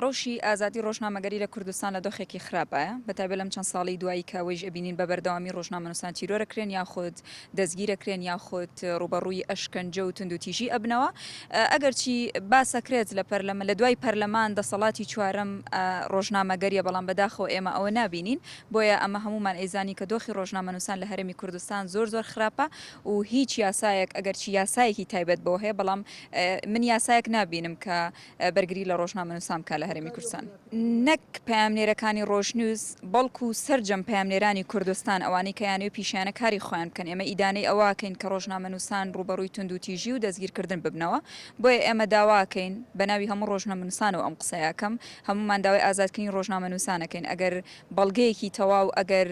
رەوشی ئازادی رۆژنامەگەری لە کوردستان لە دۆخێکی خراپایە، بە تایبەت لەم چەند ساڵەی دوایی کە ئەوەیش ئەبینین بە بەردەوامی رۆژنامەنووسان تیرۆرەکرێن یاخود دەستگیرەکرێن یاخود رووبەڕووی ئەشکەنجە و توندوتیژی ئەبنەوە ئەگەرچی باسەکرێت لە پەرلەمە لە دوای پەرلەمان دەسەڵاتی چوارەم رۆژنامەگەریە بەڵام بەداخەوە ئێمە ئەوە نابینین بۆیە ئەمە هەموومان ئەیزانین کە دۆخی رۆژنامەنووسان لە هەرێمی کوردستان زۆر زۆر خراپە و هیچ یاسایەک ئەگەرچی یاسایەکی تایبەت بۆ هەیە بەڵام من یاسایەک نابینم کە بەرگری لە ڕۆژنامەنووسان بکات لە هەرێمی کوردستان. نەک پەیامنێرەکانی ڕۆژنیوز، بەڵکو سەرجەم پەیامنێرانی کوردستان، ئەوانەی کە یانەی و پیشەیانە کاری خۆیان بکەن، ئێمە ئیدانەی ئەوەکەین کە ڕۆژنامەنووسان ڕووبەڕووی توندوتیژی و دەستگیرکردن ببنەوە، بۆیە ئێمە داواکەین، بەناوی هەموو ڕۆژنەمنووسانەوە ئەم قسەیەکەم، هەموومان داوای ئازادکردنی ڕۆژنامەنووسان ئەکەین، ئەگەر بەڵگەیەکی تەواو، ئەگەر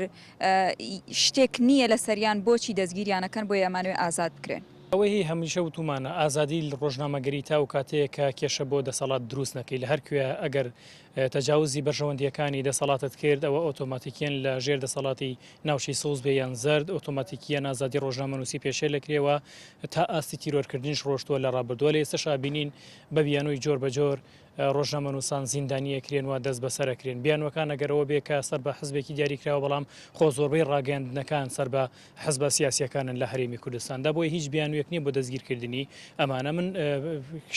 شتێک نییە لەسەریان، بۆچی دەستگیریان ئەکەن، بۆیە ئەمانەوێ ئازاد بکرێن. ئەوەی هەمیشە وتومانە ئازادی ڕۆژنامەگەری تاوەکو کاتێک کە کێشە بۆ دەسەڵات دروست نەکەی لە هەر کوێ ئەگەر تەجاوزی بەرژەوەندییەکانی دەسەڵاتت کرد ئەوە ئۆتۆماتیکیەن لە ژێر دەسەڵاتی ناوچەی سەوز بێ یان زەرد ئۆتۆماتیکیەن ئازادی ڕۆژنامەنووسی پێشێل ئەکرێ و تا ئاستی تیرۆرکردنیش ڕۆشتووە لە ڕابردووە لە ئێستەشا ئەبینین بە بیانووی جۆر بە جۆر ڕۆژنامەنووسان زیندانی ئەکرێن و دەست بەسەر ئەکرێن. بیانووەکان ئەگەر ئەوە بێ کە سەر بە حزبێکی دیاری کراوە بەڵام خۆ زۆربەی ڕاگەیاندنەکان سەر بە حزبە سیاسییەکانن لە هەرێمی کوردستاندا بۆیە هیچ بیانوویەک نییە بۆ دەستگیرکردنی ئەمانە. من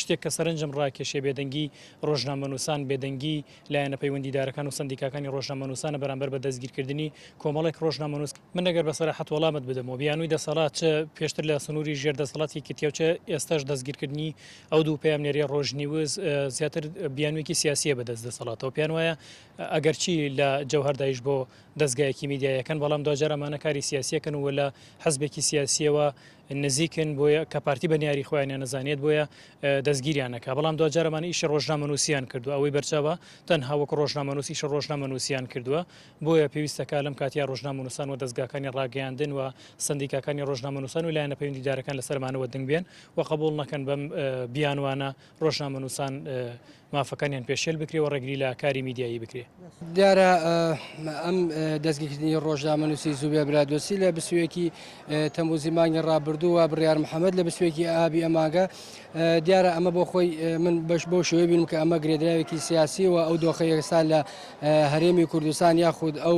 شتێک کە سەرنجم ڕاکێشێ بێدەنگی ڕۆژنامەنووسان، بێدەنگی لایەنە پەیوەندیدارەکان و سەندیکاکانی ڕۆژنامەنووسانە بەرامبەر بە دەستگیرکردنی کۆمەڵێک ڕۆژنامەنووس. من ئەگەر بە سەراحەت وەڵامت بدەمەوە بیانووی دەسەڵات چ پێشتر لە سنووری ژێر دەسەڵاتی یەکێتییە و چ ئێستاش دەستگیرکردنی ئەو دوو پەیامنێرەی ڕۆژنیوز زیاتر بیانوێکی سیاسیە بە دەست دەسەڵاتەوە پێیان وایە ئەگەرچی لە جەوهردایش بۆ دەستگایەکی میدیایەکەن بەڵام دواجار ئەمانە کاری سیاسیەکەن و لە حزبێکی سیاسیەوە نزیکن بۆیە کە پارتی بە نیاری خۆیانە نەزانێت بۆیە دەستگیریانەکە بەڵام دواجارەمان ئیشی ڕۆژنامەنووسیان کردو ئەوەی بەرچاوە تەنها وەک ڕۆژنامەنووسیش ڕۆژنامەنووسیان کردووە بۆیە پێویستەکە لەم کاتیا ڕۆژنامەنووسان و دەستگاکانی ڕاگەیاندن و سندیکاکانی ڕۆژنامەنووسان و لایەنە پەیوەندیدارەکان لەسەرمانەوە دەنگبێن و قبوڵ نەکەن بەم بیانوانە ڕۆژنامەنووسان مافەکانیان پێشێل بکرێ و ڕێگری لە کاری میدیایی بکرێ. دیارە ئەم دەستگیرکردنی ڕۆژنامەنووسی زوبێ برادۆسی لە بسویەکی تەموزی مانگی ڕابردوو و بڕیار محەممەد لە بسویەکی ئابی ئەماگە دیارە ئەمە بۆ خۆی من بەش بۆ شوێ بینم کە ئەمە گرێدراوێکی سیاسی و ئەو دۆخی ئێستا لە هەرێمی کوردستان یاخود ئەو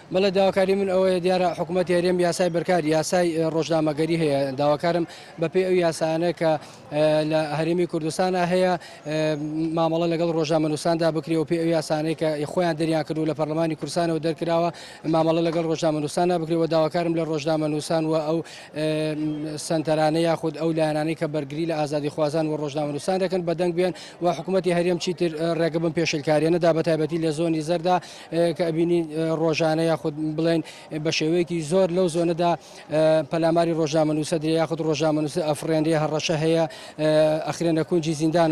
بەڵێ داواکاری من ئەوەیە دیارە حکوومەتی هەرێم یاسای بەرکاری یاسای ڕۆژنامەگەری هەیە داواکارم بەپێی ئەو یاسانە کە لە هەرێمی کوردستانە هەیە مامەڵە لەگەڵ ڕۆژنامەنووساندا بکرێ و پێ ئەو یاسانەی کە خۆیان دەریان کردو لە پەرلەمانی کورسانەوە دەرکراوە مامەڵە لەگەڵ ڕۆژنامەنووسانە بکرێەوە داواکارم لە ڕۆژنامەنووسان و ئەو سنتەرانە یاخود ئەو لایەنانەی کە بەرگری لە ئازادی خوازان و ڕۆژنامەنووسان دەکەن بەدەنگ بێن و حکوومەتتی هەرێم چیتر ڕێگە بم پێشلکاریێنەدا بە تایبەتی لە زۆنی زەردا کە ئەبینی ڕۆژانە یاخود بڵێن بە شێوەیەکی زۆر لەو زۆنەدا پەلاماری ڕۆژنامەنووسە درێ یاخود ڕۆژنامەنووسە ئەفرێنێ هەڕەشە هەیە ئەخرێنە کونجی زیندانەوە